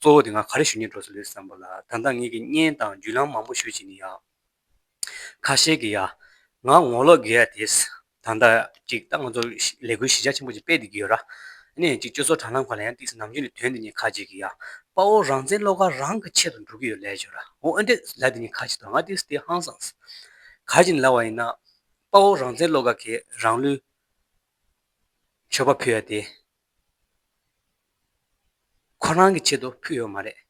གཙོ་བོ་དེ་ང་ག་རེ་ཞུ་ཉེས་འགྲོ་སོང་རེད་བསམ་པ་ལ་ད་ལྟ་ངེད་ཀྱི་བརྙན་དང་བརྒྱུད་ལམ་མང་པོ་ཞུ་བྱེད་ནི་ཡ། ཁ་ཤས་ཀྱི་ཡ། ང་ངོ་ལོག་གི་ཡ་དེས་ད་ལྟ་ཅིག་ལྟ་ང་ཚོ་ལས་འགུལ་གཞི་ཆ་ཆེན་པོ་ཅིག་སྤེལ་ཏེ་གི་ཡོད་ར། ནས་ཅིག་སྤྱོད་ཚོགས་དྲ་ལམ་གང་ལ་ཡང་ཏིགས་སེ་ནམ་རྒྱུན་ནས་དོན་དེ་གཉིས་ཁ་ཅིག་གི་ཡ། དཔའ་བོ་རང་བཙན་བློ་དགའ་རང་གི་ཆེད་དུ་འགྲོ་གི་ཡོད་ལས་བྱོས་ར། འོ་འོན་ཏེ་ལ་དེ་གཉིས་ཁ་ཅིག་དང་ང་ཏིགས་སེ་དེ་ཧང་སངས་སི། ག་ཅིག་ནི་ལ་བ་ཡིན་ན། དཔའ་བོ་རང་བཙན་བློ་དགའ་ཁྱེད་རང་ལུས། མཆོད་པ་ཕུལ་ཡ་དེ། ཁོ་རང་གི་ཆེད་དུ་ཕུལ་ཡོད་མ་རེད།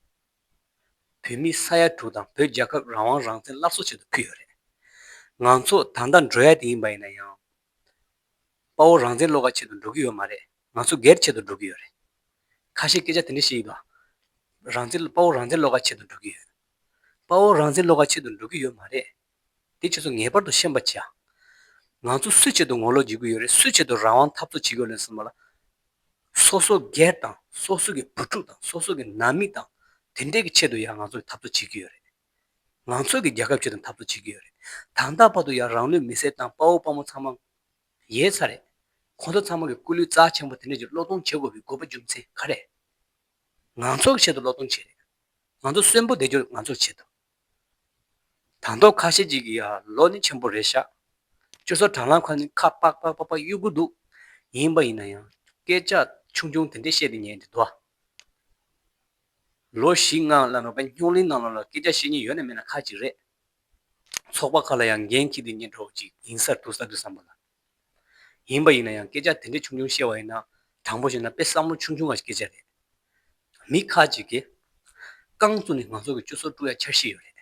བོད་མི་ས་ཡ་དྲུག་དང་བོད་རྒྱལ་ཁབ་རང་དབང་རང་བཙན་སླར་གསོ་ཆེད་དུ་ཕུལ་ཡོད་རེད། ང་ཚོ་ད་ལྟ་འགྲོ་ཡ་དེ་ཡིན་པ་ཡིན་ན་ཡང། དཔའ་བོ་རང་བཙན་བློ་ཁ་ཆེད་དུ་འགྲོ་གི་ཡོད་མ་རེད་ང་ཚོ་སྒེར་ཆེད་དུ་འགྲོ་གི་ཡོད་རེད། ཁ་ཤས་སྐད་ཆ་དེ་འདྲ་བཤད་ཡི་དོ། རང་བཙན་དཔའ་བོ་རང་བཙན་བློ་ཁ་ཆེད་དུ་འགྲོ་གི་ཡོད། དཔའ་བོ་རང་བཙན་བློ་ཁ་ཆེད་དུ་འགྲོ་གི་ཡོད་མ་རེད། དེ་ཁྱོད་ཚོ་ངེས་པར་དུ་ཤེས་པར་བྱ། ང་ཚོ་སུའི་ཆེད་དུ་ངོ་ལོག་བྱེད་ཀྱི་ཡོད་རེད་སུའི་ཆེད་དུ་རང་དབང་འཐབ་རྩོད་བྱེད་དགོས་རེད་གསུངས་པ་ལ། སོ་སོ་སྒེར་དང་སོ་སོ་གི་བུ་ཕྲུག་དང་སོ་སོ་གི་ནང་མི་དང་དེ་འདྲས་ཀྱི་ཆེད་དུ་ཡང་ང་ཚོ་འཐབ་རྩོད་བྱེད་ཀྱི་ཡོད་རེད། ང་ཚོ་གི་རྒྱལ་ཁབ་ཆེད་དུ་འཐབ་རྩོད་བྱེད་ཀྱི་ཡོད་རེད། དང་ད་བར་དུ་ཡང་རང་ལུས་མེ་སྲེག་བཏང་དཔའ་བོ་དཔའ་མོ་ཚང་མ་ཡོད་ས་རེད། ཁོང་ཚོ་ཚང་མ་གི་སྐུ་ལུས་རྩ་ཆེན་པོ་དེ་འདྲས་ཀྱི་བློ་གཏོང་བྱེད་དགོས་པའི་དགོས་པ་རྒྱུ་མཚན་ག་རེད། ང་ཚོ་གི་ཆེད་དུ་བློ་གཏོང་བྱེད་རེད། ང་ཚོ་གསོན་པོ་བསྡད་རྒྱུར་ང་ཚོར་བྱེད་ཐུབ། དང་ཐོག་ཁ་ཤས་ཅིག་གིས་ཡ་ལོ་ནི་ཆེན་པོ་རེད་ཤག། ཅོ་སོ་གྲང་ལགས་ཁ་ནི་ཁ་པག་པག་པག་པག་གཡུག་གུ་འདུག། ཡིན་པ་ཡིན་ན་ཡང་སྐད་ཆ་ཆུང་ཆུང་དེ་འདྲས་བཤད་དེ་ཉན་དེ་འདུག། ལོ་བཞི་ལྔ་ལ་མེད་པ་སྙོག་གླིང་ནང་ལོགས་ལ་སྐད་ཆ་བཤད་ཉེན་ཡོད་ན་མེད་ན་ཁག་ཅིག་རེད། ཚོགས་པ་ཁག་ལ་ཡང་འགན་འཁྱེར་དེ་ཉན་གྲོགས་ཅིག་ཡིན་སར་འདུག་ས་འདུག་བསམ་པ་ལ། ཡིན་པ་ཡིན་ན་ཡང་སྐད་ཆ་དེ་འདྲའི་ཆུང་ཆུང་བཤད་བ་ཡིན་ན་དྲང་པོ་བཤད་ན་དཔེ་བསམ་བློ་ཆུང་ཆུང་ག་ཞིག་སྐྱེ་བྱ་རེད། མི་ཁ་ཅིག་གིས། རྐང་བཙུགས་ནས་ང་ཚོ་གི་བཅུ་སོ་དཀྲུག་ཡ་འཆར་གཞི་ཡོད་རེད།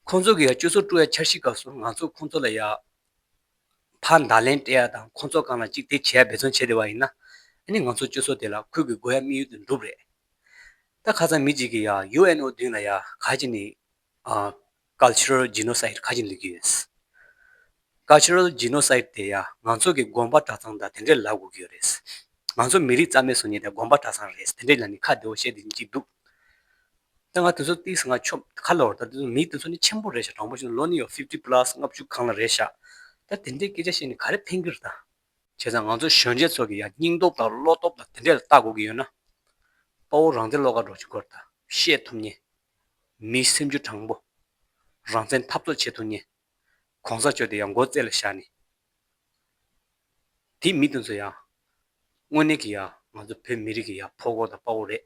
ཁོང་ཚོ་གི་ཡ་བཅུ་སོ་དཀྲུག་ཡ་འཆར་གཞི་སྐབས་སུ་ང་ཚོ་ཁོང་ཚོ་ལ་ཡ་ཕ་མདའ་ལན་སྤྲད་ཡ་དང་ཁོང་ཚོ་གང་ལ་ཅིག་དེ་བྱེད་ཡ་འབད་བརྩོན་བྱེད་བདེ་བ་ཡིན་ན། ནི་ང་ཚོ་བཅུ་སོ་དེ་ལ་ཁུལ་གི་སྒོ་ཡ་དམིགས་ཡུལ་དུ་འགྲུབ་རེད། ད་ཁ་ཚ་མི་ཅིག་གིས་ཡ UNO བདུན་ལ་ཡ་ག་ཅིག་ནི Cultural Genocide ཁ་ཅིག་འདུག་གི་ཡོད། Cultural Genocide དེ་ཡང་ང་ཚོ་གི་དགོངས་པ་གྲྭ་ཚང་དང་དེ་འདྲས་ལབ་དགོས་ཀྱི་ཡོད་རེད། ང་ཚོ་མི་རིགས་རྩ་མེད་བཟོ་ཉེས་དེ་དགོངས་པ་གྲྭ་ཚང་རེད་དེ་འདྲས་ལ་ནི་ཁ་བདེ་བོ་བཤད་དེ་ཅིག་འདུག། ད་ང་དེ་ཚོ་བལྟས་ཟིན་ང་ཆོམ་ཁ་ལོར་ད་དེ་ཚོ་མི་དེ་ཚོ་ནི་ཆེན་པོ་རེད་ཤག་དྲང་པོ་བཤད་ན་ལོ་ནི་ཡོད fifty plus ལྔ་བཅུ་གང་ལ་རེད་ཤག་ད་དེ་འདྲས་སྐད་ཆ་བཤད་ནས་ག་རེ་ཕན་གི་རེད་ད། བྱས་ཙང་ང་ཚོ་གཞོན་སྐྱེས་ཚོ་གི་ཡང་སྙིང་སྟོབས་དང་བློ་སྟོབས་དང་དེ་འདྲས་ལ་བལྟ་དགོས་ཀྱི་ཡོད་ན། དཔའ་བོ་རང་བདེ་བློ་དགའ་འགྲོ་ཅིག་སྐོར་ད་བཤད་ཐུབ་ངེས། མིའི་སེམས་རྒྱུད་དྲང་པོ། རང་བཙན་འཐབ་རྩོད་བྱེད་ཐུབ་ངེས། གོང་ས་བཅོས་དེ་ཡང་མགོ་བརྩེགས་ལ་བཞག་ནས། དེ་མི་དེ་ཚོ་ཡང། དངོས་གནས་ཀྱི་ཡང་ང་ཚོ་བོད་མི་རིགས་ཀྱི་ཡང་ཕོ་རྒོད་དང་དཔའ་བོ་རེད།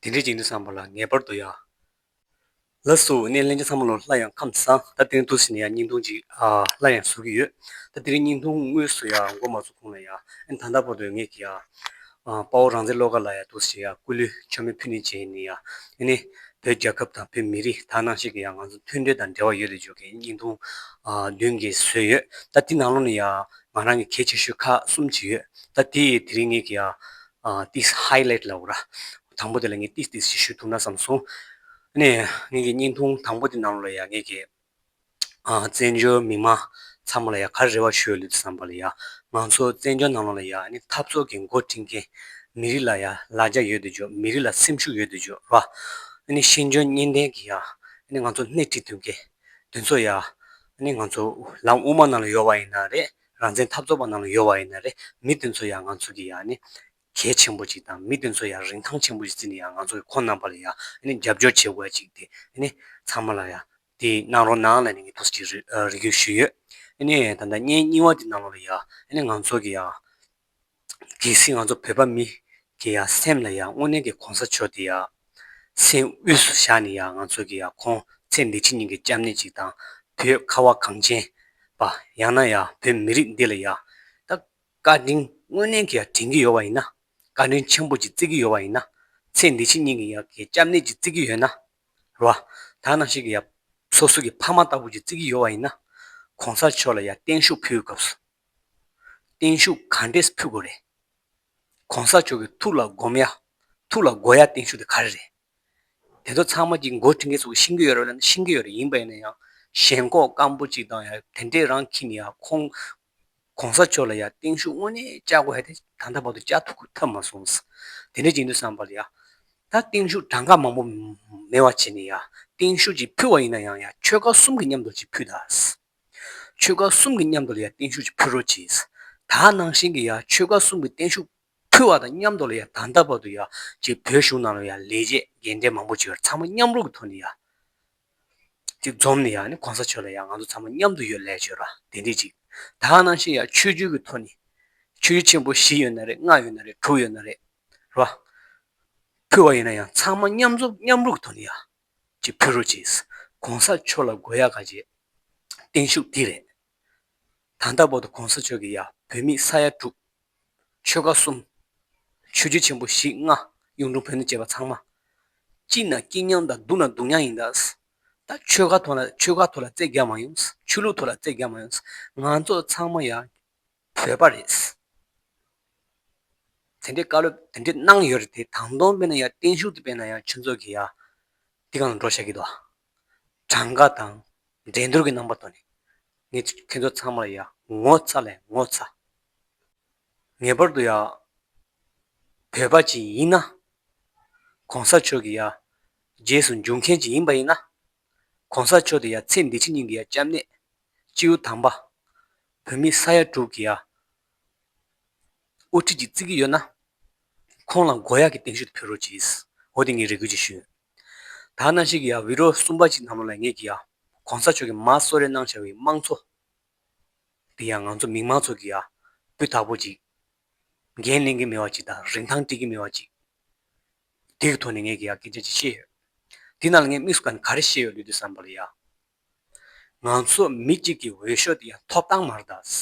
དེ་འདྲའི་ཅིག་འདི་བསམ་པ་ལ་ངེས་པར་དུ་ཡང། ལ་སུ་ནས་གླེང་བྱ་ཚང་མ་ལོ་སླ་ཡང་ཁམས་བཟང་ད་དེང་དུ་ཟིན་ན་ཡང་སྙིང་ཐུང་ཅིག་སླ་ཡང་ཟུག་གི་ཡོད་ད་དེ་རིང་སྙིང་ཐུང་དངོས་སུ་ཡང་མགོ་མ་ཚུགས་གོང་ལ་ཡང་ད་ལྟ་བར་དུ་ངེད་ཀྱི་དཔའ་བོ་རང་བཙན་བློ་དགའ་ལགས་ཡང་དུ་ཟིན་ན་ཡང་སྐུ་ལུས་མཆོད་མེ་ཕུལ་ནི་བྱས་ནི་ཡང་ནི་བོད་རྒྱལ་ཁབ་དང་བོད་མི་རིགས་དག་སྣང་ཞིག་གིས་ཡང་ང་ཚོ་མཐུན་སྒྲིལ་དང་འབྲེལ་བ་ཡོད་རེད་བརྗོད་ཀྱིན་སྙིང་ཐུང་མདུན་གྱི་བཟོས་ཡོད་ད་དེ་ནང་ལོགས་ནས་ཡང་ང་རང་གི་གལ་ཆེ་ཤོས་ཁག་གསུམ་བྱས་ཡོད་ད་དེ་ཡིས་དེ་རིང་ངེད་ཀྱི་ཨ་ཏིས་ཧའི་ལེད་ལ་འོ་ར། དང་པོ་དེ་ལ་ངས་ཏིས་ཏིས་ཞེས་ཞུ་ཐུབ་ན་བསམ་སོང། ཨ་ནས། ངེད་ཀྱི་བརྙན་ཐུང་དང་པོ་དེ་ནང་ལ་ཡང་ངེད་ཀྱི། ཨ་བཙན་བྱོལ་མི་མང་ཚང་མ་ལ་ཡང་ག་རེ་རེ་བ་ཞུ་ཡ་ལུས་བསམ་པ་ལ་ཡང། ང་ཚོ་བཙན་བྱོལ་ནང་ལ་ཡང་ཨ་ནི་འཐབ་རྩོད་ཀྱི་མགོ་བཀྲིན་མཁན། མི་རིགས་ལ་ཡང་ལ་རྒྱ་ཡོད་དུ་འཇོག་མི་རིགས་ལ་སེམས་ཤུགས་ཡོད་དུ་འཇོག་རོགས། ཨ་ནི་ཤེས་འཇོན་གཉེན་ལྡན་གྱི་ཡང་ཨ་ནི་ང་ཚོ་སྣེ་ཁྲིད་དོན་མཁན། དེ་ཚོ་ཡང། ཨ་ནི་ང་ཚོ་ལམ་དབུ་མ་ནང་ལ་ཡོད་བ་ཡིན་ན་རེད། རང་བཙན་འཐབ་རྩོད་པ་རྣམས་ལ་ཡོད་པ་ཡིན་ན་རེད་མི་དེ་ཚོ་ཡང་ང་ཚོ་གི་ཡང་ནི་གལ་ཆེན་པོ་ཅིག་དང་མི་དེ་ཚོ་ཡང་རིན་ཐང་ཆེན་པོ་ཞིག་བརྩིས་ནས་ཡང་ང་ཚོ་གི་ཁོང་རྣམས་པ་ལ་ཡང་ནི་རྒྱབ་སྐྱོར་བྱེད་དགོས་ཅིག་དེ་ནི་ཚང་མ་ལ་ཡང་དེ་གནང་རོགས་གནང་ལ་ནི་ངས་ཐུགས་རྗེ་ཆེ་རེ་ཞུ་ཡོད་ནི་ད་ལྟ་བརྙན་རྙིང་བ་དེ་གནང་རོགས་ལ་ཡང་ནི་ང་ཚོ་གི་ཡང་གལ་སྲིད་ང་ཚོ་བོད་པ་མི་གི་ཡ་སེམས་ལ་ཡ་དངོས་གནས་ཀྱི་གོང་ས་མཆོག་དེ་ཡ་སེམས་དབུས་སུ་བཞག་ནས་ཡ་ང་ཚོ་གི་ཡ་ཁོང་ཚེ་འདི་ཕྱི་གཉིས་ཀྱི་སྐྱབས་གནས་ཅིག་དང་བོད་ཁ་བ་གངས་ཅན་པ་ཡང་ན་ཡ་བོད་མི་རིགས་འདི་ལ་ཡ་ད་བཀའ་དྲིན་དངོས་གནས་ཀྱི་ཡ་དྲན་གྱི་ཡོད་བ་ཡིན་ན་བཀའ་དྲིན་ཆེན་པོ་ཅིག་བརྩི་གི་ཡོད་བ་ཡིན་ན་ཚེ་འདི་ཕྱི་གཉིས་ཀྱི་ཡ་གི་སྐྱབས་གནས་ཅིག་བརྩི་གི་ཡོད་ན་རོ་ད་ནང་བཞིན་གྱི་ཡ་སོ་སོ་གི་ཕ་མ་ལྟ་བུ་ཅིག་བརྩི་གི་ཡོད་བ་ཡིན་ན་གོང་ས་མཆོག་ལ་ཡ་བརྟན་བཞུགས་ཕུལ་བའི་སྐབས་སུ། བརྟན་བཞུགས་ག་འདྲས་ཕུལ་དགོས་རེད། གོང་ས་མཆོག་གི་ཐུགས་ལ་སྒོམ་ཡ། ཐུགས་ལ་འགོ་ཡ་བརྟན་བཞུགས་དེ་ག་རེ་རེད། དེ་ཚོ་ཚང་མ་གྱི་མགོ་དཀྲིན་མཁན་ཚོ་ཤི་གི་ཡོད་རེད་ལ་ཤི་གི་ཡོད་རེད་ཡིན་པ་ཡིན་ན་ཡང་ཞེན་ཁོག་སྐམ་པོ་ཅིག་དང་ཡང་དེ་འདྲས་རང་ཁྱིམ་ཡ་ཁོང་གོང་ས་མཆོག་ལ་ཡ་བརྟན་བཞུགས་དངོས་གནས་བཅའ་དགོས་ཡ་དེ་ད་ལྟ་བར་དུ་བཅའ་ཐུག་ཐབས་མ་སོང་ཟ། དེ་འདྲས་ཅིག་འདུག་བསམ་པ་ལ་ཡ། ད་བརྟན་བཞུགས་གྲངས་ཀ་མང་པོ་མེད་བ་བྱས་ནས་ཡ་བརྟན་བཞུགས་ཅིག་ཕུལ་བ་ཡིན་ན་ཡང་ཡ་ཆོལ་ཁ་གསུམ་གྱི་མཉམ་དུ་ཅིག་ཕུལ་ད་ཟ། ཆོལ་ཁ་གསུམ་གྱི་མཉམ་དུ་ལ་ཡར་བརྟན་བཞུགས་ཀྱི་ཕུལ་རོགས་གྱིས། ད་ནང་བཞིན་གྱི་ཡར་ཆོལ་ཁ་གསུམ་གྱི་བརྟན་བཞུགས་ཕུལ་བ་དང་མཉམ་དུ་ལ་ཡར་ད་ལྟ་བར་དུ་ཡར་གྱི་བོད་གཞུང་ནང་ལ་ཡར་ལས་བྱེད་རྒན་གྲས་མང་པོ་བྱས་པར་ཚང་མ་མཉམ་རུབ་ཀྱི་ཐོག་ནས་ཡར། ཅིག་འཛོམས་ནས་ཡར་ནི་གོང་ས་མཆོག་ལ་ཡར་ང་ཚོ་ཚང་མ་མཉམ་དུ་ཡོད་ལས་བྱོས་ར་དེ་འདྲས་ཅིག་ད་ནང་བཞིན་ཡར་ཆོས་བརྒྱུད་ཀྱི་ཐོག་ནས། ཆོས་བརྒྱུད་ཆེན་པོ་བཞི་ཡོད་ན་རེད་ལྔ་ཡོད་ན་རེད་དྲུག་ཡོད་ན་རེད། ར། ཕུལ་བ་ཡིན་ན་ཡང་ཚང་མ་མཉམ་འཛོམས་མཉམ་རུབ་ཀྱི་ཐོག་ནས་ཡར། ཀྱི་བུ་རུ་གྱིས། གོང་ས་མཆོག་ལ་དགོས་ཡག་ག་བྱེད། བརྟན་བཞུགས་འདི་རེད། ད་ལྟ་བོ་ད་གོང་ས་མཆོག་གིས་ཡ་བོད་མི་ས་ཡ་དྲུག། ཆོལ་ཁ་གསུམ། ཆོས་རྒྱུད་ཆེན་པོ་བཞི་ལྔ། གཡུང་དྲུང་བོན་ནས་བཅས་པ་ཚང་མ། སྐྱིད་ན་སྐྱིད་མྱངས་དང་སྡུག་ན་སྡུག་མྱངས་ཡིན། ད་ཆོལ་ཁ་ཐོག་ན་ཆོལ་ཁ་ཐོག་ལ་རྩེད་རྒྱག་མ་ཡོང། ཆོས་ལུགས་ཐོག་ལ་རྩེད་རྒྱག་མ་ཡོང། ང་ཚོ་ཚང་མ་ཡ། བཟོས་པ་རེད། དེ་འདྲའི་བཀའ་སློབ་དེ་འདྲའི་གནང་ཡོད་རེད་དེ་དང་དོང་དཔེ་ན་ཡང་བརྟན་བཞུགས་དུ་དཔེ་ན་ཡང་ཆུ་མཛོད་ཀྱི་ཡང་འདི་གང་འགྲོ་ཤག་གི་དོ། གྲངས་ཀ་དང་འགྲན་བསྡུར་གྱི་རྣམ་པ་དོ་ནི་ངེད་ཚོ་ཁྱེད་ཚོ་ཚང་མ་ལ་ཡང་ངོ་ཚ་ལས་ངོ་ཚ། ངེས་པར་དུ་ཡང་བོད་པ་ཅིག་ཡིན་ན། གོང་ས་མཆོག་གི་ཡང་རྗེས་སུ་འཇུག་མཁན་ཅིག་ཡིན་པ་ཡིན་ན། ྋགོང་ས་མཆོག་དེ་ཡ་ཚེ་འདི་ཕྱི་གཉིས་ཀྱི་ཡ་སྐྱབས་གནས། སྤྱིའུ་དམ་པ། བོད་མི་ས་ཡ་དྲུག་གི་ཡ། དབུ་ཁྲིད་ཀྱི་རྩིས་ཀྱི་ཡོད་ན། ཁོང་ལ་མགོ་ཡག་གི་སྟེང་ཤུལ་དུ་ཕེབས་རོགས་གྱིས། འོ་དེ་ངས་རེ་སྐུལ་ཅིག་ཞུ། ད་གནའ་ཤུལ་གྱི་ཡ་བྷི་རོ་གསུམ་པ་གཅིག་ནམ་ལོ་ལ་ངེད་ཀྱི་ཡ། ྋགོང་ས་མཆོག་གི་མ་གསོལ་རས་གནང་བྱ་བའི་དམངས་གཙོ། དེ་ཡ་ང་ཚོ་མིག་མང་ཚོགས་ཀྱི་ཡ། སྤུས་དག་པོ་གཅིག། འགན་ལེན་གྱི་མི་བ་ཅིག་དང་རིན་ཐང་སྤྲད་ཀྱི་མི་བ་ཅིག། དེ་གི་ཐོག་ནས་ངས་གི་ཡག་སྐད་ཆ་ཅིག་བཤད་ཡོད། དེ་རྣམས་ལ་ངས་དམིགས་སུ་ག་ག་རེ་བཤད་ཡོད་ལུས་འདི་བསམ་པ་ལ་ཡ། ང་ཚོ་མི་གཅིག་གི་འོས་ཤོག་དེ་ཡང་ཐོབ་ཐང་མར་དྭགས།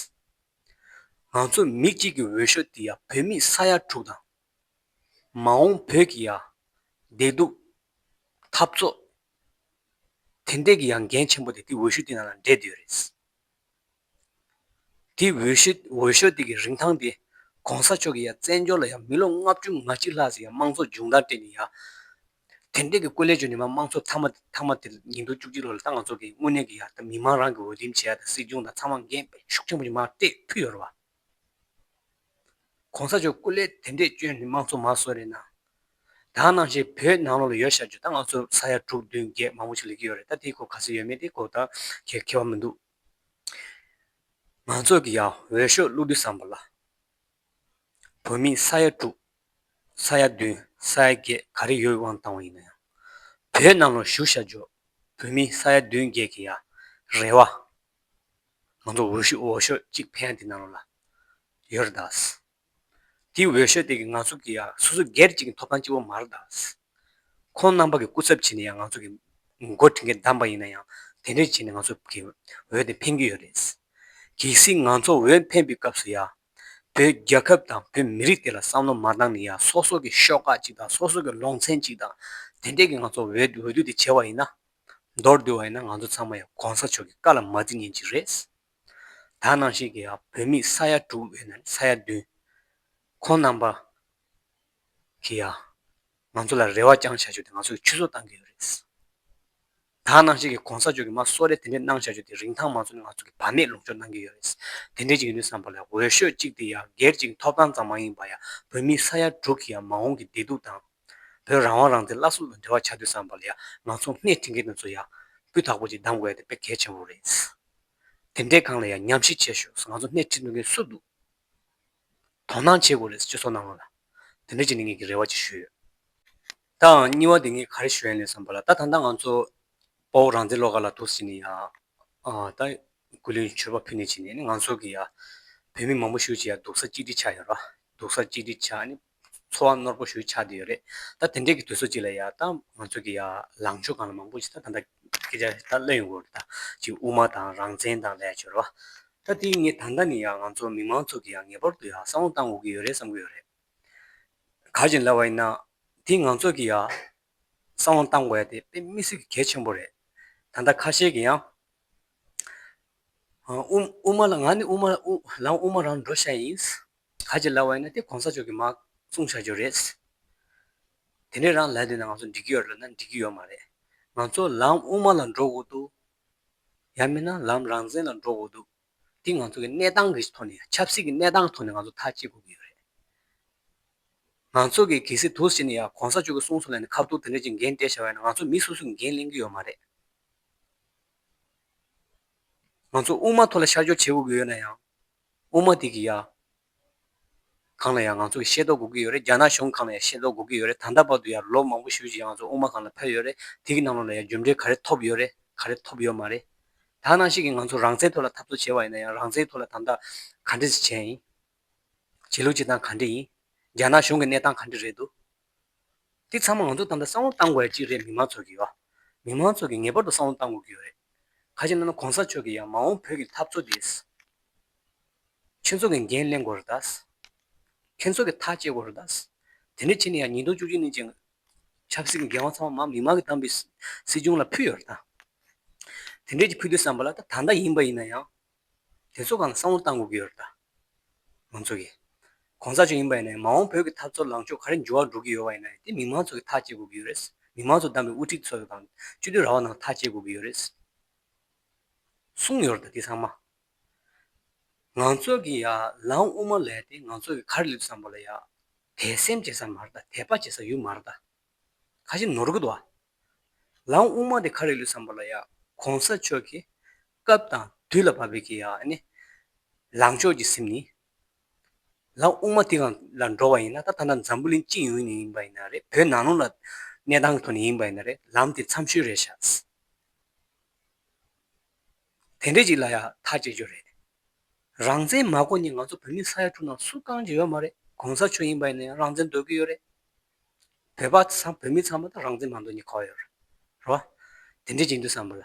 ང་ཚོ་མི་གཅིག་གི་འོས་ཤོག་དེ་ཡ་བོད་མི་ས་ཡ་དྲུག་དང། མ་འོངས་བོད་ཀྱི་ཡ། བདེ་སྡུག། འཐབ་རྩོད། དེ་འདྲས་ཀྱི་ཡང་འགན་ཆེན་པོ་དེ་དེ་འོས་ཤུགས་དེ་རྣམས་ལ་འབྲེལ་འདོད་རེད། དེའི་འོས་ཤོག་དེ་གི་རིན་ཐང་དེ ྋགོང་ས་མཆོག་གི་ཡང་བཙན་བྱོལ་ལ་ཡང་མི་ལོ་ལྔ་བཅུ་ང་གཅིག་ལྷག་ཟིག་ཡང་དམངས་གཙོ་སྦྱོང་བརྡར་སྤྲད་ནས་ཡང། དེ་འདྲས་ཀྱི་སྐུ་ལས་བྱོན་ནས་མ་དམངས་གཙོ་ཐ་མ་དེ་ཉིས་འདུག་བཅུ་གཅིག་ལོ་ལ་ད་ང་ཚོ་གི་དངོས་གནས་ཀྱི་ཡང་མི་མང་རང་གི་འོས་འདེམས་བྱས་ཡ་ད་སྲིད་སྐྱོང་དང་ཚང་མ་འགན་ཤུགས་ཆེན་པོ་ཞིག་མ་སྤྲད་ཕུད་ཡོད་རེད་བ། ྋགོང་ས་མཆོག་སྐུ་ལས་དེ་འདྲས་བྱོན་ནས་དམངས་གཙོ་མ་བཟོ་རེད་ན། ད་གནང་བཞིན་བོད་ནང་ལོག་ལ་ཡོད་བཤད་བྱོས་ད་ང་ཚོ་ས་ཡ་དྲུག་བདུན་བརྒྱད་མང་པོ་ཞིག་ལས་ཀྱི་ཡོད་རེད་ད་དེའི་སྐོར་ག་ཚོད་ཡོད་མེད་དེ་སྐོར་ད་མཁས་པ་མི་འདུག། མང་ཚོགས་ཀྱི་ཡང་འོས་ཤོག་བླུགས་དུས་བསམ་པ་ལ། བོད་མི་ས་ཡ་དྲུག་ས་ཡ་བདུན་ས་ཡ་བརྒྱད་ག་རེ་ཡོད་དབང་བཏང་བ་ཡིན་ན་ཡང། བོད་གནམ་ལོ་བཞུགས་ཤ་འཇོག་བོད་མི་ས་ཡ་བདུན་བརྒྱད་ཀྱི་ཡང་རེ་བ། ང་ཚོ་འོས་ཤོག་གཅིག་ཕན་བདེ་གནང་རོགས་ལ། ཡོད་རེད་དཱ། དེའི་འོས་ཤོག་དེ་གིས་ང་ཚོ་གི་ཡང་སོ་སོ་སྒེར་གཅིག་གི་ཐོབ་ཐང་གཅིག་པོ་མར་བཏགས། ཁོང་རྣམ་པ་གི་སྐུ་ཚབ་བྱས་ནས་ཡང་ང་ཚོ་གི་མགོ་དེ་གའི་བསྡམས་པ་ཡིན་ན་ཡང་དེ་འདྲས་བྱས་ནས་ང་ཚོ་གི་འོས་དེ་འཕེན་གྱི་ཡོད་རེད། གལ་སྲིད་ང་ཚོ་འོས་འཕེན་པའི་སྐབས་སུ་ཡང་བོད་རྒྱལ་ཁབ་དང་བོད་མི་རིགས་དེ་ལ་བསམ་བློ་མ་བཏང་ནས་ཡང་སོ་སོ་གི་ཤོག་ཁག་ཅིག་དང་སོ་སོ་གི་ལོང་ཚན་ཅིག་དང་དེ་འདྲས་གིས་ང་ཚོ་འོས་བསྡུ་དེ་བྱས་བ་ཡིན་ན། མདོར་བསྡུས་བ་ཡིན་ན་ང་ཚོ་ཚང་མ་ཡང་གོང་ས་མཆོག་གི་བཀའ་ལ་མ་བརྩི་ཉན་གྱི་རེད། ད་ནང་བཞིན་གྱི་བོད་མི་ས་ཡ་དྲུག་ཡོད་ན་ས་ཡ་བདུན། ཁོང་རྣམ་པ་གིས་ཡང་ང་ཚོ་ལ་རེ་བ་བཅང་བཞག་རྒྱུ་དེ་ང་ཚོ་གི་ཆུ་བཟོ་བཏང་གི་ཡོད་རེད། ད་ནང་བཞིན་གྱི་གོང་ས་མཆོག་གིས་མ་གསོལ་རས་དེ་འདྲས་གནང་བཞག་རྒྱུ་དེ་རིན་ཐང་མ་ཚོར་ནས་ང་ཚོ་གི་བར་མེད་ལུང་སྦྱོར་གནང་གི་ཡོད་རེད། དེ་འདྲས་ཅིག་ཡིན་དུས་བསམ་པ་ལ་འོས་ཤོས་གཅིག་དེ་ཡང་སྒེར་གཅིག་གི་ཐོབ་ཐང་ཙམ་མ་ཡིན་པར་ཡང་བོད་མི་ས་ཡ་དྲུག་གི་ཡང་མ་འོངས་ཀྱི་བདེ་སྡུག་དང། བོད་རང་དབང་རང་བཙན་སླར་གསོ་ལ་འབྲེལ་བ་བྱ་འདོད་བསམ་པ་ལ་ཡང་ང་ཚོ་སྣེ་ཁྲིད་མཁན་དེ་ཚོ་ཡང་སྤུས་དག་པོ་ཅིག་གདམ་དགོས་ཡ་དེ་དཔེ་གལ་ཆེན་པོ་རེད། དེ་འདྲའི་སྒང་ལ་ཡང་ཉམས་ཞིབ་བྱེད་ཞོགས་ང་ཚོ་སྣེ་ཁྲིད་འདོད་མཁན་སུ་འདུག་དོ་སྣང་བྱེད་དགོས་རེད་ཅེས་སོགས་གནང་བ་ལ། དེ་འདྲ་བྱེད་ནི་ངེད་ཀྱི་རེ་བ་ཅིག་ཞུས་ཡོད། དང་གཉིས་བ་དེ་ངས་ག་རེ་ཞུ་ཡ་ཡིན་བསམ་པ་ལ་ད་ད་ལྟ་ང་ཚོ་དཔའ་བོ་རང་བཙན་བློ་དགའ་ལ་དུར་སི་ནས་ཡང་ད་ཀུན་གླེང་མཆོད་པ་ཕུལ་ནས་བྱས་ནས་ནི་ང་ཚོ་གི་ཡ་བོད་མི་མང་པོ་ཞུགས་ཅིག་ཡ་སྡུག་ས་གཅིག་སྒྲིལ་ཆགས་ཡོད་ར་སྡུག་ས་གཅིག་སྒྲིལ་ཆགས་ནི། འཚོ་བ་ནོར་བུ་ཞུ་ཆགས་འདི་ཡོད་རེད་ད་དེ་འདྲས་ཀྱི་དུས་ཚོད་ཅིག་ལ་ཡ་ད་ང་ཚོས་ཀྱི་ཡ་ལངས་ཕྱོགས་གང་ལ་མང་པོ་ཞིག་ད་ད་སྐད་ཆ་ད་གླེང་ཡོང་གི་རེད་ད་ཅིག་དབུ་མ་དང་རང་བཙན་དང་ལས་བྱོལ་བ། ད་དེ་ངས་ད་ལྟ་ནས་ཡ་ང་ཚོ་མི་མང་ཚོགས་ཀྱི་ཡ་ངེས་པར་དུ་ཡ་བསམ་བློ་བཏང་དགོས་ཀྱི་ཡོད་རེད་བསམ་གྱི་ཡོད་རེད། ག་བྱིན་ལ་བ་ཡིན་ན་དེ་ང་ཚོས་ཀྱི་ཡ་བསམ་བློ་བཏང་དགོས་ཡ་དེ་དཔེ་དམིགས་སུ་གལ་ཆེན་པོ་རེད་ད་ལྟ་ཁ་ཤས་ཀྱི་ཡང། དབུ་དབུ་མ་ལ་ང་ནི་དབུ་མ་ལ་དབུ་མ་རང་འགྲོ་ཤ་ཡིན། ག་ཅི་ལབ་བ་ཡིན་ན་དེ་གོང་ས་མཆོག་གི་མ་གསུང་བྱ་རྒྱུ་རེད། དེ་ནས་རང་ལས་དེ་ན་ང་ཚོ་འགྲིག་གི་ཡོད་རེད་ལབ་ན་འགྲིག་གི་ཡོད་མ་རེད། ང་ཚོ་ལམ་དབུ་མ་ལ་འགྲོ་དགོས་འདུག་ཡང་མིན་ན་ལམ་རང་བཙན་ལ་འགྲོ་དགོས་འདུག་འདི་ང་ཚོ་གི་གནས་སྟངས་ཀྱི་ཐོག་ནས་ཆབ་སྲིད་ཀྱི་གནས་སྟངས་ཀྱི་ཐོག་ནས་ང་ཚོ་ཐག་གཅད་དགོས་ཀྱི་ཡོད་རེད། ང་ཚོ་གི་གལ་སྲིད་དུ་ཟེར་ནས་ཡ་གོང་ས་མཆོག་གི་གསུང་སོགས་ལས་ནས་ཁ་བསྡུར་དེ་འདྲ་ཅིག་འགན་སྤྲད་བྱ་བ་ཡིན་ན་ང་ཚོ་མི་སོ་སོས་འགན་ལེན་གྱི་ཡོད་མ་རེད། ང་ཚོ་དབུ་མ་ཐོག་ལ་ཤར་ཕྱོགས་བྱེད་དགོས་ཀྱི་ཡོད་ན་ཡང། དབུ་མ་དེ་གི་ཡ། གང་ལ་ཡང་ང་ཚོ་གི་ཤེས་རྟོགས་དགོས་ཀྱི་ཡོད་རེད་རྒྱ་ནག་གཞུང་གང་ལ་ཡང་ཤེས་རྟོགས་དགོས་ཀྱི་ཡོད་རེད་ད་ལྟ་བར་དུ་ཡ་ལོ་མང་པོ་ཞུས་ཀྱི་ང་ཚོ་དབུ་མ་གང་ལ་ཕེབས་ཡོད་རེད་དེ་གི་ནང་ལོགས་ལ་ཡ་རྒྱུ་འབྲས་ག་རེ་ཐོབ་ཡོད་རེད་ག་རེ་ཐོབ་ཡོད་མ་རེད་ད་ནང་བཞིན་གི་ང་ཚོ་རང་བཙན་ཐོག་ལ་འཐབ་རྩོད་བྱས་བ་ཡིན་ན་ཡང་རང་བཙན་ཐོག་ལ་དམ་དྲག་ག་འདྲི་བྱས་ཡིན། བྱེད་ལུགས་བྱེད་སྟངས་ག་འདྲི་ཡིན། རྒྱ་ནག་གཞུང་གི་གནས་སྟངས་ག་འདྲི་རེད་འདུག། འདི་ཚང་མ་ང་ཚོ་ཏང་དང་བསམ་བློ་བཏང་དགོས་ཡ་གཅིག་རེད་མི་མང་ཚོགས་ཀྱིས་ཨོ། མི་མང་ཚོགས་ཀྱིས་ངེས་པར་དུ་བསམ་བློ་བཏང་དགོས་ཀྱི་ཡོད་རེད། ཁ་ཆེ་ན་ན་གོང་ས་མཆོག་གིས་ཡང་མ་འོངས་བོད་ཀྱི་འཐབ་རྩོད་འདི། ཁྱོད་ཚོ་གིས་འགན་གླེང་དགོས་རེད་ད། ཁྱོད་ཚོ་གིས་ཐག་བཅད་དགོས་རེད་ད། དེ་འདྲ་བྱས་ནས་ཡང་ཉིས་སྟོང་བཅུ་གཅིག་ནས་བཅས། ཆབ་སྲིད་ཀྱི་འགན་དབང་ཚང་མ་མི་མང་གིས་བཏང་པའི་སྲིད་སྲིད་སྐྱོང་ལ་ཕུལ་ཡོད་རེད་ད། དེ་འདྲས་ཀྱིས་ཕུལ་དུས་བསམ་པ་ལ་ད་ད་ལྟ་ཡིན་པ་ཡིན་ན་ཡང། དེ་ཚོ་གང་བསམ་བློ་བཏང་དགོས་ཀྱི་ཡོད་རེད་ད། མང་ཚོགས་ཀྱིས། གོང་ས་ཅུང་ཡིན་པ་ཡིན་ནའི་མ་འོངས་བོད་ཀྱི་འཐབ་རྩོད་ལངས་ཕྱོགས་ག་རེ་འགྱུར་བ་འགྲོ་གི་ཡོད་བ་ཡིན་ནའི་དེ་མི་མང་ཚོགས་ཀྱིས་ཐག་བཅད་དགོས་ཀྱི་ཡོད་རེད། མི་མང་ཚོགས་བདམས་པའི་དབུ་ཁྲིད་ཚོ་དང་སྤྱི་མཐུན་ར་བ་ནང་ཐག་བཅད་དགོས་ཀྱི་ཡོད་རེད། གསུངས་ཡོད་རེད་ད་དེ་ཚང་མ། ང་ཚོ་གི་ཡ་ལང་དབུ་མ་ལས་དེ་ང་ཚོ་གི་གར་སླེབས་བསམ་པ་ལ་ཡ། དད་སེམས་བྱེད་ས་མ་རེད་ད་དད་པ་བྱེད་ས་ཡོད་མ་རེད་ད། ཁ་ཞེ་ནོར་གི་འདུག་ཨ། ལང་དབུ་མ་དེ་གར་རེ་སླེབས་བསམ་པ་ལ་ཡ། གོང་ས་མཆོག་གིས། སྐབས་དང་དུས་ལ་བབ་པའི་གི་ནི། ལངས་ཕྱོགས་ཀྱི་སེམས་ནི། ལ་དབུགས་མ་དེ་གང་ལ་འགྲོ་བ་ཡིན་ན་ད་ད་ནངས་འཛམ་བུ་གླིང་སྤྱི་ཡོངས་ནས་ཡིན་པ་ཡིན་ན་རེད་བོད་ནང་ལུང་ལ་གནས་སྟངས་ཐོག་ནས་ཡིན་པ་ཡིན་ན་རེད་ལམ་དེ་འཚམས་ཤོས་རེད་ཤག། དེ་འདྲས་ཅིག་ལ་ཡག་ཐག་བཅད་རྒྱུ་རེད། རང་བཙན་མ་གོ་ནས་ང་ཚོ་བོད་མི་ས་ཡ་དྲུག་ནང་སུ་རྐང་གཅིག་ཡོད་མ་རེད་གོང་ས་མཆོག་ཡིན་པ་ཡིན་ན་ཡང་རང་བཙན་འདོད་གི་ཡོད་རེད། བོད་པ་ཚང་བོད་མི་ཚང་མ་དང་རང་བཙན་མང་དོ་གཉིས་གོ་ཡོད་རོ། དེ་འདྲའི་ཅིག་འདུག་བསམ་པོ་ལ།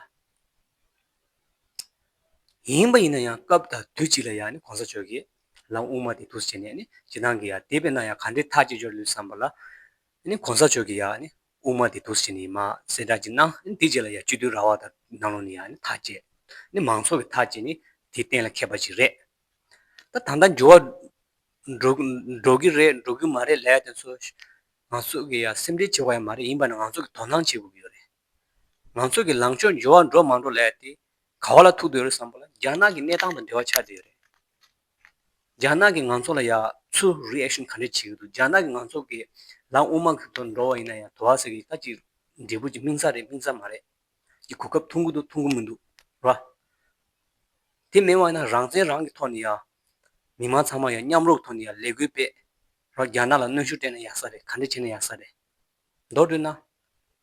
ཡིན་པ་ཡིན་ན་ཡང་སྐབས་དང་དུས་ཅིག་ལ་ཡང་ནི་གོང་ས་ཆོས་ཀྱིས་ལམ་དབུ་མ་དེ་ཐུགས་སུ་བྱས་ནས་ནི་ཇི་གནང་གི་ཡང་དེ་བས་ན་ཡང་ག་འདྲའི་ཐག་གཅིག་གཅོད་ལུས་བསམ་པ་ལ། ནི་གོང་ས་ཆོས་ཀྱིས་ཡང་ནི་དབུ་མ་དེ་ཐུགས་སུ་བྱས་ནས་ཡིན་མ་གསལ་དྲག་ཅིག་གནང་ནི་དེ་རྗེས་ལ་ཡང་སྤྱི་དོན་ར་བ་དང་ནང་ལོག་ནི་ཡང་ནི་ཐག་བཅད། ནི་མང་ཚོགས་ཀྱི་ཐག་བཅད་ནི་དེ་གཏན་ལ་ཁེལ་པ་ཅིག་རེད། ད་ད་ལྟ་འགྱུར་བ་འགྲོ་གི་རེད་འགྲོ་གི་མ་རེད་ལས་དེ་ཚོ་ང་ཚོ་གི་ཡང་སེམས་ཁྲལ་བྱེད་དགོས་ཡ་མ་རེད་ཡིན་པ་ནི་ང་ཚོ་གི་དོ་སྣང་བྱེད་དགོས་ཀྱི་ཡོད་རེད་ང་ཚོ་གི་ལངས་ཕྱོགས་འགྱུར་བ་འགྲོ་མ་འགྲོ་ལས་དེ་ག་བ་ལ་ཐུག་འདོད་རེད་བསམ་པ་ལ་རྒྱ་ནག་གི་གནས་སྟངས་དང་འབྲེལ་བ་ཆགས་བསྡད་ཡོད་རེད། རྒྱ་ནག་གི་ང་ཚོ་ལ་ཡ་ཚུར Reaction ག་འདྲས་བྱེད་ཀྱི་འདུག་རྒྱ་ནག་གི་ང་ཚོ་གི་ལམ་དབུ་མ་གི་ཐོག་འགྲོ་བ་ཡིན་ན་ཡང་དོ་བ་ཟེར་གྱི་ཀ་ཅིག་འབྲས་བུ་ཅིག་སྨིན་ས་རེད་སྨིན་ས་མ་རེད། གི་གོ་སྐབས་ཐོང་གི་འདུག་ཐོང་གི་མི་འདུག་ར། དེ་མེད་བ་ཡིན་ན་རང་བཙན་རང་གི་ཐོག་ནས་ཡང། མི་མང་ཚང་མ་ཡང་མཉམ་རོགས་ཐོག་ནས་ཡང་ལས་འགུལ་སྤེལ། ར་རྒྱ་ནག་ལ་གནོན་ཤུགས་སྤྲད་ན་ཡག་ས་རེད་ག་འདྲ་བྱས་ན་ཡག་ས་རེད། མདོར་བསྡུས་ན།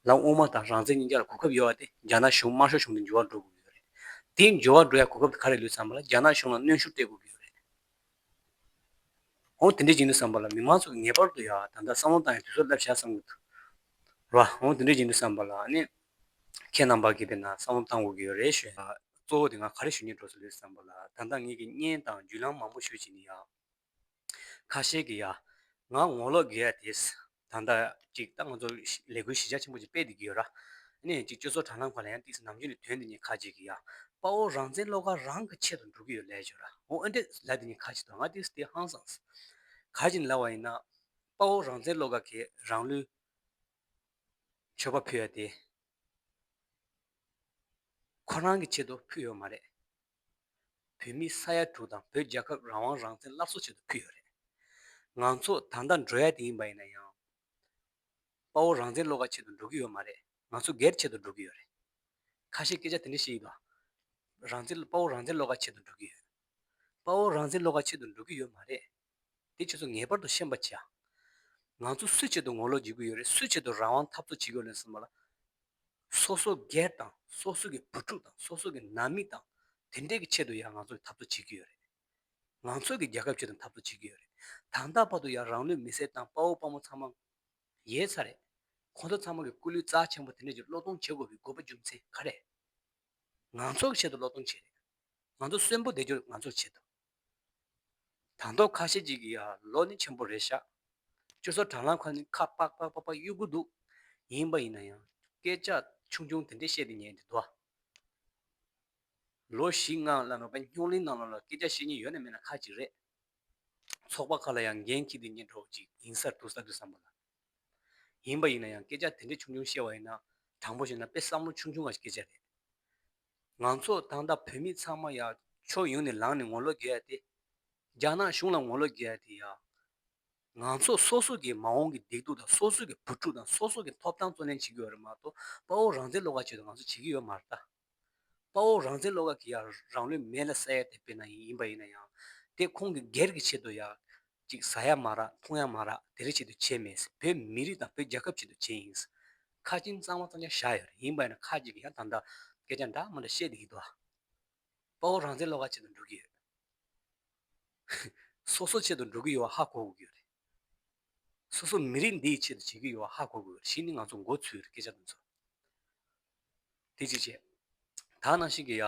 ལམ་དབུ་མ་དང་རང་བཙན་གཉིས་ཀ་ལ་གོ་སྐབས་ཡོད་བ་དེ་རྒྱ་ནག་གཞུང་དམར་ཤོག་གཞུང་དེ་འབྱོར་བ་འགྲོ་དགོས་ཀྱི་ཡོད་རེད། དེ་འབྱོར་བ་འགྲོ་ཡ་གོ་སྐབས་དེ་ག་རེ་ལུས་ཚང་མ་ལ་རྒྱ་ནག་གཞུང་ལ་གནོན་ཤུགས་སྤྲད་དགོས་ཀྱི་ཡོད་རེད། འོང་དེ་འདྲའི་བྱིངས་དུ་བསམ་པ་ལ་མི་མང་ཚོགས་ཀྱིས་ངེས་པར་དུ་ཡང་ད་ལྟ་བསམ་བློ་བཏང་ཡང་དུས་ཚོད་རླབས་ཆགས་བསམ་གྱི་འདུག་ར་བ། འོང་དེ་འདྲའི་བྱིངས་དུ་བསམ་པ་ལ་ནི་ཁྱེད་རྣམ་པ་གིས་པས་ན་བསམ་བློ་བཏང་དགོས་ཀྱི་ཡོད་རེད་ཞུས་ན། གཙོ་བོ་དེ་ང་ག་རེ་ཞུ་ཉེན་འགྲོ་སྲིད་ལོས་བསམ་པ་ལ་ད་ལྟ་ངེད་ཀྱིས་བརྙན་དང་བརྒྱུད་ལམ་མང་པོ་ཞུ་བྱེད་ནི་ཡང། ཁ་ཤས་ཀྱིས་ཡང་ང་ངོ་ལོག་རྒས་ཡ་དེས། ད་ལྟ་ཅིག་ད་ང་ཚོ་ལས་འགུལ་གཞི་ཆགས་ཆེན་པོ་ཅིག་སྤེལ་བསྡད་ཀྱི་ཡོད། ནས་ཅིག་སྤྱོད་ཚོགས་དྲ་ལམ་ཁག་ལ་ཡང་ཏིག་ནམ་རྒྱུན་ནས་དོན་འདི་གཉིས་ཁ་ཅིག་གིས་ཡ། དཔའ་བོ་རང་བཙན་བློ་དགའ་རང་གི་ཆེད་དུ་འགྲོ་གི་ཡོད་ལས་བྱོས་ར་འོ་འོན་ཏེ་ལ་དེ་གཉིས་ཁ་ཅིག་དང་ང་ཏིག་སྟེ་ཧང་སངས། ག་ཅིག་ནི་ལ་བ་ཡིན་ན། དཔའ་བོ་རང་བཙན་བློ་དགའ་གིས་རང་ལུས། མཆོད་པ་ཕུལ་ཡ་དེ། ཁོ་རང་གི་ཆེད་དུ་ཕུལ་ཡོད་མ་རེད། བོད་མི་ས་ཡ་དྲུག་དང་བོད་རྒྱལ་ཁབ་རང་དབང་རང་བཙན་སླར་གསོ་བྱེད་དུ་ཕུལ་ཡོད་རེད། ང་ཚོ་ད་ལྟ་འགྲོ་ཡ་དེ་ཡིན་པ་ཡིན་ན་ཡང། དཔའ་བོ་རང་བཙན་བློ་ཁ་ཆེད་དུ་འགྲོ་གི་ཡོད་མ་རེད་ང་ཚོ་སྒེར་ཆེད་དུ་འགྲོ་གི་ཡོད་རེད། ཁ་ཤས་སྐད་ཆ་དེ་འདྲ་བཤད་ཡི་དོ། རང་བཙན་དཔའ་བོ་རང་བཙན་བློ་ཁ་ཆེད་དུ་འགྲོ་གི་ཡོད། དཔའ་བོ་རང་བཙན་བློ་ཁ་ཆེད་དུ་འགྲོ་གི་ཡོད་མ་རེད། དེ་ཁྱོད་ཚོ་ངེས་པར་དུ་ཤེས་པར་བྱ། ང་ཚོ་སུའི་ཆེད་དུ་ངོ་ལོག་བྱེད་ཀྱི་ཡོད་རེད་སུའི་ཆེད་དུ་རང་དབང་འཐབ་རྩོད་བྱེད་ཀྱི་ཡོད་རེད་གསུངས་པ་ལ། སོ་སོ་སྒེར་དང་སོ་སོ་གི་བུ་ཕྲུག་དང་སོ་སོ་གི་ནང་མི་དང་དེ་འདྲས་ཀྱི་ཆེད་དུ་ཡང་ང་ཚོ་འཐབ་རྩོད་བྱེད་ཀྱི་ཡོད་རེད། ང་ཚོ་གི་རྒྱལ་ཁབ་ཆེད་དུ་འཐབ་རྩོད་བྱེད་ཀྱི་ཡོད་རེད། དང་ད་བར་དུ་ཡང་རང་ལུས་མི་སེར་དང་དཔའ་བོ་དཔའ་མོ་ཚང་མ་ཡོད་ས་རེད། ཁོང་ཚོ་ཚང་མ་གི་སྐུ་ལུས་རྩ་ཆེན་པོ་དེ་འདྲས་ཀྱི་བློ་གཏོང་བྱེད་དགོས་པའི་དགོས་པ་འབྱུང་ཚེ་ག་རེ། ང་ཚོ་གི་ཆེད་དུ་བློ་གཏོང་བྱེད་རེད། ང་ཚོ་གསོན་པོ་བསྡད་རྒྱུར་ང་ཚོར་བྱེད་ཐུབ། དང་ཐོག་ཁ་ཤས་ཅིག་གིས་ཡ་ལོ་ནི་ཆེན་པོ་རེད་ཤག་ཅོ་སོ་དྲང་ལགས་ཁ་ནི་ཁ་པག་པག་པག་པག་གཡུག་གི་འདུག་ཡིན་པ་ཡིན་ན་ཡང་སྐད་ཆ་ཆུང་ཆུང་དེ་འདྲས་བཤད་དེ་ཉན་དེ་འདུག་ཨ། ལོ་བཞི་ལྔ་ལ་མེད་པ་སྙོག་གླིང་ནང་ལོག་ལ་སྐད་ཆ་བཤད་ཉེན་ཡོད་ན་མེད་ན་ཁག་ཅིག་རེད། ཚོགས་པ་ཁག་ལ་ཡང་འགན་འཁྱེར་དེ་ཉན་གྲོགས་ཅིག་ཡིན་སར་འདུག་ས་དུས་བསམ་པ་ལ། ཡིན་པ་ཡིན་ན་ཡང་སྐད་ཆ་དེ་འདྲས་ཆུང་ཆུང་བཤད་བ་ཡིན་ན་དྲང་པོ་བཤད་ན་དཔེ་བསམ་བློ་ཆུང་ཆུང་བ་ཞིག་སྐད་ཆ་རེད། ང་ཚོ་ཏང་དང་བོད་མི་ཚང་མ་ཡང་ཕྱོགས་ཡོངས་ནས་ལངས་ནས་ངོ་ལོག་རྒྱག་ཡ་དེ། རྒྱ་ནག་གཞུང་ལ་ངོ་ལོག་རྒྱག་ཡ་དེ་ཡང། ང་ཚོ་སོ་སོ་གིས་མ་འོངས་ཀྱི་བདེ་སྡུག་དང་སོ་སོ་གི་བུ་ཕྲུག་དང་སོ་སོ་གི་ཐོབ་ཐང་བརྩོན་ལེན་བྱེད་དགོས་པ་རེད་མ་གཏོགས་དཔའ་བོ་རང་བཙན་བློ་ཁ་བྱེད་དུ་ང་ཚོ་བྱེད་ཀྱི་ཡོད་མ་རེད་ད། དཔའ་བོ་རང་བཙན་བློ་ཁ་གིས་ཡང་རང་ལུས་མེ་ལ་བསྲེགས་ཡ་དེ་དཔེར་ན་ཡིན་པ་ཡིན་ན་ཡང། དེ་ཁོང་གིས་སྒེར་གྱི་ཆེད་དུ་ཡང། ཅིག་ཟ་ཡ་མ་རག་འཐུང་ཡ་མ་རག་དེ་རིང་བྱེད་དུ་བྱས་མེད་བོད་མི་རིགས་དང་བོད་རྒྱལ་ཁབ་བྱེད་དུ་བྱས་ཡིན། ཁ་སྐྱིན་གཙང་མ་གཙང་ཆ་བཞག་ཡོད་རེད་ཡིན་པ་ཡིན་ན་ཁ་ཅིག་གིས་ཡང་དང་དང་སྐད་ཆ་འདྲ་མ་འདྲ་བཤད་དུ་ཡི་དོ། དཔའ་བོ་རང་བཙན་བློ་ཁ་ཆེད་དུ་འགྲོ་གི་ཡོད། སོ་སོ་ཆེད་དུ་འགྲོ་གི་ཡོད་བ་ཧ་གོ་དགོས་ཀྱི་ཡོད་རེད། སོ་སོ་མི་རིགས་འདི་ཡི་ཆེད་དུ་བྱེད་ཀྱི་ཡོད་བ་ཧ་གོ་དགོས་ཡོད་རེད་གཞི་ནི་ང་ཚོ་མགོ་ཚུད་ཡོད་རེད་སྐད་ཆ་འདི་ཚོ། དེ་གཅིག་བྱས། ད་ནང་བཞིན་གྱི་ཡ།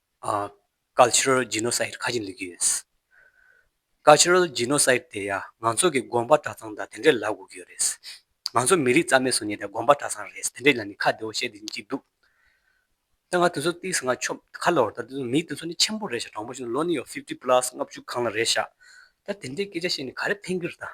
Cultural Genocide། ཁ་ཅིག་འདོན་གྱི་ཡོད། Cultural Genocide། དེ་ཡང་ང་ཚོ་གི་དགོངས་པ་གྲྭ་ཚང་དང་དེ་འདྲས་ལབ་དགོས་ཀྱི་ཡོད་རེད། ང་ཚོ་མི་རིགས་རྩ་མེད་བཟོ་ཉེས་དེ་དགོངས་པ་གྲྭ་ཚང་རེད་དེ་འདྲས་ལ་ནི་ཁ་བདེ་བོ་བཤད་དེ་ཅིག་འདུག། ད་ང་དེ་ཚོ་བལྟས་ཟིན་ང་ཆོམ་ཁ་ལོར་ད་དེ་ཚོ་མི་དེ་ཚོ་ནི་ཆེན་པོ་རེད་ཤག་དྲང་པོ་བཤད་ན་ལོ་ནི་ཡོད fifty plus ལྔ་བཅུ་གང་ལ་རེད་ཤག་ད་དེ་འདྲས་སྐད་ཆ་བཤད་ནས་ག་རེ་ཕན་གྱི་རེད་ད།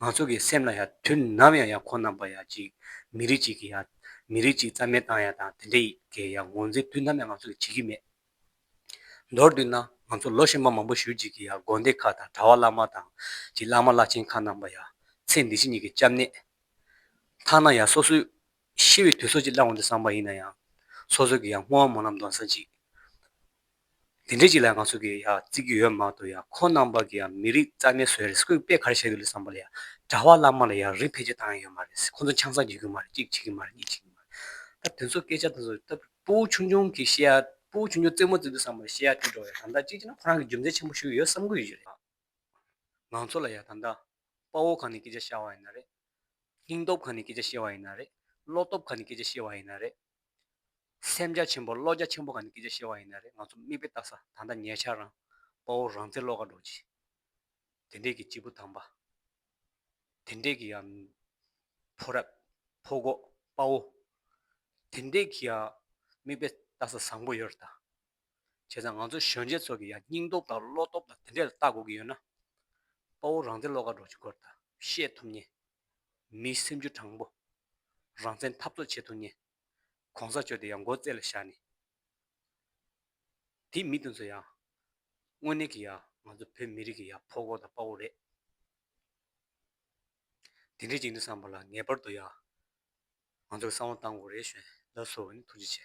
ང་ཚོ་གི་སེམས་ལ་ཡང་དུས་ནམ་ཡང་ཡང་ཁོང་རྣམ་པ་ཡང་ཅིག་མི་རིགས་ཅིག་གི་ཡང་མི་རིགས་ཅིག་རྩ་མེད་བཏང་ཡང་དང་དེ་འདྲའི་གི་ཡང་ངོ་འཛིན་དུས་ནམ་ཡང་ང་ཚོ་གི་བྱེད་ཀྱི་མེད། མདོར་དུད་ན་ང་ཚོ་ལོ་ཕྱེད་མ་མང་པོ་བཞུད་ཅིག་གི་ཡང་དགོན་སྡེ་ཁག་དང་གྲྭ་བ་བླ་མ་དང་གི་བླ་མ་བླ་ཆེན་ཁག་རྣམ་པ་ཡང་ཚེ་འདི་ཕྱི་གཉིས་ཀྱི་སྐྱབས་གནས་མཐའ་ན་ཡང་སོ་སོའི་ཤི་བའི་དུས་སོ་ཅིག་བླང་འོང་དུ་བསམ་པ་ཡིན་ན་ཡང་སོ་སོ་གི་ཡང་སྔོན་དབང་མོ་ལམ་གདོན་ས་ཅིག་དེ་འདྲའི་ཅིག་ལ་ང་ཚོ་གིས་ཡང་བརྩི་གི་ཡོད་མ་གཏོགས་ཡང་ཁོང་རྣམ་པ་གིས་ཡང་མི་རིགས་རྩ་མེད་བཟོས་རེད་སྐུད་པས་ག་རེ་བྱེད་གི་ལུས་བསམ་པ་ལ་ཡང་གྲྭ་བ་བླ་མ་ལ་ཡང་རིགས་འཕེལ་རྒྱས་བཏང་ཡི་ཡོད་མ་རེད་ཁོང་ཚོ་ཆང་ས་འཇུ་གི་མ་རེད་གཅིག་བྱེད་གི་མ་རེད་གཉིས་བྱེད་གི་མ་རེད་ད་དེ་ཚོ་སྐད་ཆ་དེ་ཚོ་ལྟ་བུ་སྤུ་བོ་ཆུང་ཆུང་གིས་བཤད་ཡ་སྤུ་བོ་ཆུང་ཆུང་རྩེད་མོ་རྩེད་དུས་བསམ་པ་ལ་བཤད་ཡ་དྲིས་འགྲོ་བས་དམ་དག་གཅིག་བྱས་ན་ཁོ་རང་གིས་རྒྱུ་མཚན་ཆེན་པོ་ཞུ་གི་ཡོད་བསམ་གི་ཡོད་རེད། ང་ཚོ་ལ་ཡང་དམ་དག་དཔའ་བོ་གང་ནས་སྐད་ཆ་བཤད་བ་ཡིན་ན་རེད། སྙིང་སྟོབས་གང་ནས་སྐད་ཆ་བཤད་བ་ཡིན་ན་རེད་བློ་སྟོབས་གང་ནས་སྐད་ཆ་བཤད་བ་ཡིན་ན་རེད། སེམས་རྒྱ་ཆེན་པོ་བློ་རྒྱ་ཆེན་པོ་གང་ནས་སྐད་ཆ་བཤད་པ་ཡིན་ན་རེད་ང་ཚོ་མིག་དཔེ་བལྟ་ས་ད་ལྟ་ཉེ་ཆར་རང་དཔའ་བོ་རང་བཙན་བློ་ཁ་འགྲོ་རྗེས་དེ་འདྲས་ཀྱི་སྐྱིད་པོ་དམ་པ་དེ་འདྲས་ཀྱི་ཡང་ཕོ་རབ་ཕོ་གོག་དཔའ་བོ་དེ་འདྲས་ཀྱི་ཡང་མིག་དཔེ་བལྟ་ས་བཟང་པོ་ཡོད་རེད་ད་བྱས་ཙང་ང་ཚོ་གཞོན་སྐྱེས་ཚོ་གི་ཡང་སྙིང་སྟོབས་དང་བློ་སྟོབས་དང་དེ་འདྲས་ལ་བལྟ་དགོས་ཀྱི་ཡོད་ན་དཔའ་བོ་རང་བཙན་བློ་ཁ་འགྲོ་རྗེས་སྐོར་ད་བཤད་ཐུབ་ཉེན། མིའི་སེམས་རྒྱུད་དྲང་པོ། རང་བཙན་འཐབ་རྩོད་བྱེད་ཐུབ་ངེས། གོང་ས་མཆོག་དེ་ཡང་མགོ་བརྩེགས་ལ་བཞག་ནས། དེ་མི་དེ་ཚོ་ཡང། དངོས་གནས་ཀྱི་ཡང་ང་ཚོ་བོད་མི་རིགས་ཀྱི་ཡང་ཕོ་བོ་དང་དཔའ་བོ་རེད། དེ་འདྲའི་ཅིག་འདི་བསམ་པ་ལ་ངེས་པར་དུ་ཡང་ང་ཚོ་གསང་བ་བཏང་དགོས་རེད་བཞོན་ལབ་སོ་ནི་ཐུགས་རྗེ་ཆེ།